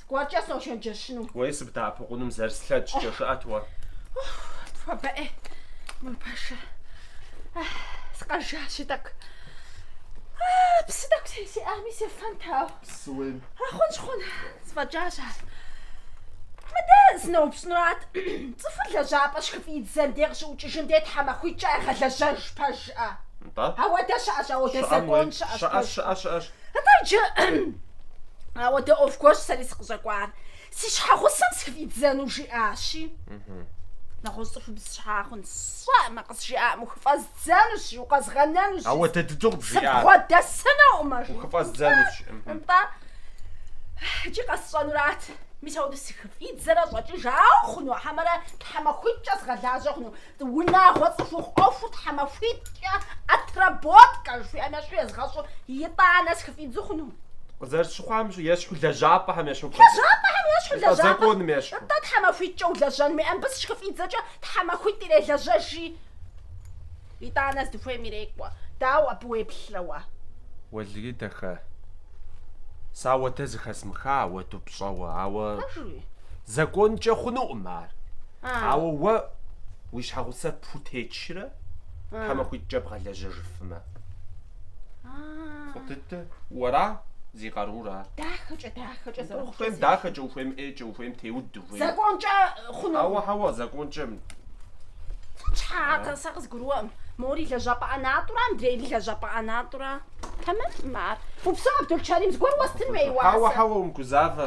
Скӏуэркӏэ сочэнджэщыну. Уей, сыбдэӏэпыкъуным зэрыслъэкӏкӏэ, жыӏэт уэ. Хуэбэӏей, мыр пэшэ. Сыкъэжащи тӏэкӏу. Псы тӏэкӏу сэ сиӏами сефэнт, ау. Псы ухуейм. Хъунщ, хъун. Сфӏэкӏащ ар. Мыдэ сыноупщӏынурат, цӏыхур лэжьапӏэ щыхыфӏидзэн дей къыщыӏукӏыжын дей тхьэмахуитӏкӏэ ягъэлэжьэж пэжӏэ? Нтӏэ? Ауэдэ щыӏэщ, ауэдэ Щыӏэм уей. закон щыӏэщ Щыӏэщ, пэжщ. щыӏэщ, щыӏэщ. Атӏэ иджы ауэдэ ӏуэху гуэрщ сэри сыкъыщӏэкӏуар. Си щхьэгъусэм сыхыфӏидзэну жиӏащи. Нэгъуэщӏ цӏыхубз щхьэ хъун сщӏэӏымэ, къызжиӏаӏым, ухыфӏэздзэнущ, жи, укъэзгъэнэнущ. Ауэдэ дыдэу къыбжиӏа. Сыбгъуэдэсынукъымэ, жи. Ухыфӏэздзэнущ. Нтӏэ, иджы къэсщӏэнурат. Мис ауэдэ сыхыфӏидзэрэ щӏэкӏыжауэ хъуну, хьэмэрэ тхьэмахуитӏкӏэ сгъэлажьэ хъуну? Унагъуэ цӏыхухъу ӏуэхур тхьэмахуитӏкӏэ отработка жыхуиӏэм ещхьу езгъэщӏу итӏанэ сыхыфӏидзу хъуну? Къызэрыщыхъуам щӏы, ещхьу лэжьапӏэхэм ещхьу пхуэдэ. Лэжьапӏэхэм ещхьу Нтӏэ лэжьапӏэ. законым ещхьу. Нтӏэ тхьэмахуитӏкӏэ улэжьэн мыӏэм абы сыщыхыфӏидзэкӏэ тхьэмахуитӏ ирелэжьэ жи. Итӏанэ здыхуейм ирекӏуэ. Дауэ абы уеплърэ уэ? Уэлэхьи дахэ, сэ ауэдэ зыхэзмыха ауэду пщӏэуэ, ауэ. Пэжуи? Законкӏэ хъунукъым ар. Ауэ уэ уи щхьэгъусэр пхутечрэ тхьэмахуитӏкӏэ бгъэлэжьэжыфмэ? Фӏы дыдэ. Уэра зи къарур ар. Дахэкӏэ, дахэкӏэ зэрыхъу. Ухуейм дахэкӏэ, ухуейм ӏейкӏэ, ухуейм теуд, ухуейм. Законкӏэ хъунукъым. Хьэуэ, хьэуэ, законкӏэ. Щхьэ атӏэ, сэ къызгурыӏуэкъым. Мори лэжьапӏэ ӏэнатӏурэ, мыдрейри лэжьапӏэ ӏэнатӏурэ. Тэмэмӏым ар. Упсэу, Абдулчэрим, зыгуэр уэстын хуей уасэ. Хьэуэ, хьэуэ, умыгузавэ.